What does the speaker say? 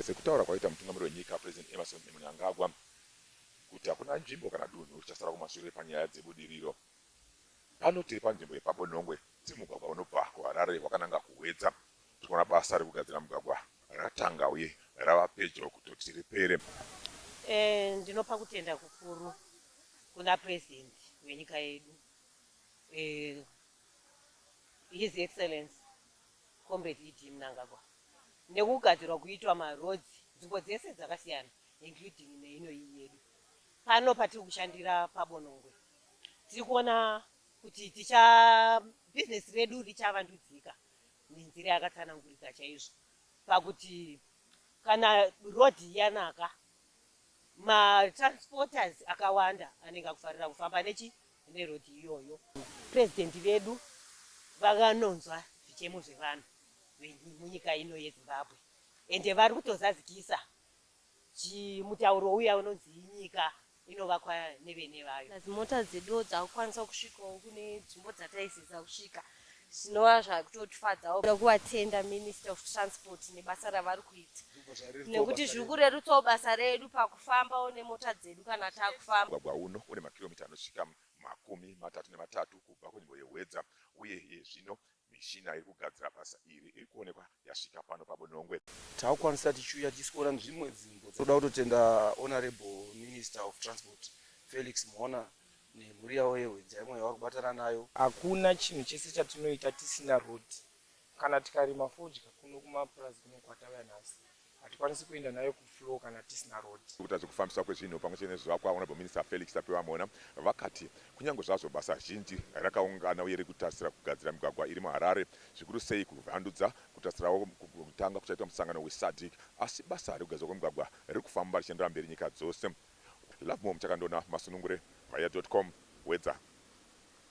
Sekutaura kwaita mutungamiri wenyika President Emmerson Mnangagwa kuti hakuna nzvimbo kana dunhu richasara kumashure panyaya dzebudiriro. Pano tiri panzvimbo yepaBonongwe tiri mugwagwa unobva kuHarare wakananga kuHwedza. Tiri kuona basa rekugadzira mugwagwa ratanga uye rava pedyo kutoti ripere. Ndinopa kutenda kukuru kuna President wenyika yedu His Excellency Comrade ED Mnangagwa nekugadzirwa kuitwa maroads nzvimbo dzese dzakasiyana including neino iyi yedu. Pano patiri kushandira paBonongwe tiri kuona kuti ticha business redu richavandudzika nenzira yakatsanangurika chaizvo pakuti kana road yanaka. Ma transporters akawanda anenge akufarira kufamba nechi ne road iyoyo. President vedu vakanonzwa zvichemo zvevanhu vemunyika ino ye Zimbabwe ende vari kutozazikisa chi mutauro uya unonzi nyika inovakwa nevene vayo. Plus mota dzeduwo dzakukwanisa kusvikawo kune dzvimbo dzataisiza kusvika zvinova zvakutotifadzawo kuda kuvatenda minister of transport nebasa ravari kuita nekuti zviri kurerutsawo basa redu pakufambawo nemota dzedu kana takufamba Mugwagwa uno une makiromita anosvika makumi matatu nematatu kubva kunzvimbo yeHwedza uye iye zvino mishina iri kugadzira basa iri iri kuonekwa yasvika pano paBonongwe. Takukwanisa tichiuya tichisiona dzimwe nzvimbo. Tinoda kutotenda Honourable Minister of Transport Felix Mhona nemhuri yavo yehwedza imwe yavari kubatana nayo. Hakuna chinhu chese chatinoita tisina road. Kana tikarima fodya kuno kumapurazi kuno kwatauya nhasi, hatikwanisi kuenda nayo kufloor kana tisina road. Gurukota rezvekufambiswa kwezvinhu pamwe chete nezvivakwa, Honourable Minister Felix Tapiwa Mhona, vakati kunyange zvazvo basa zhinji rakaungana uye riri kutarisira kugadzira migwagwa iri muHarare, zvikuru sei kuvandudza, kutarisirawo kutanga kuchaitwa musangano weSADC, asi basa rekugadzirwa kwemigwagwa riri kufamba richienderera mberi nyika dzose. Lovemore Muchakandona Masunungure Vaya dot com Hwedza.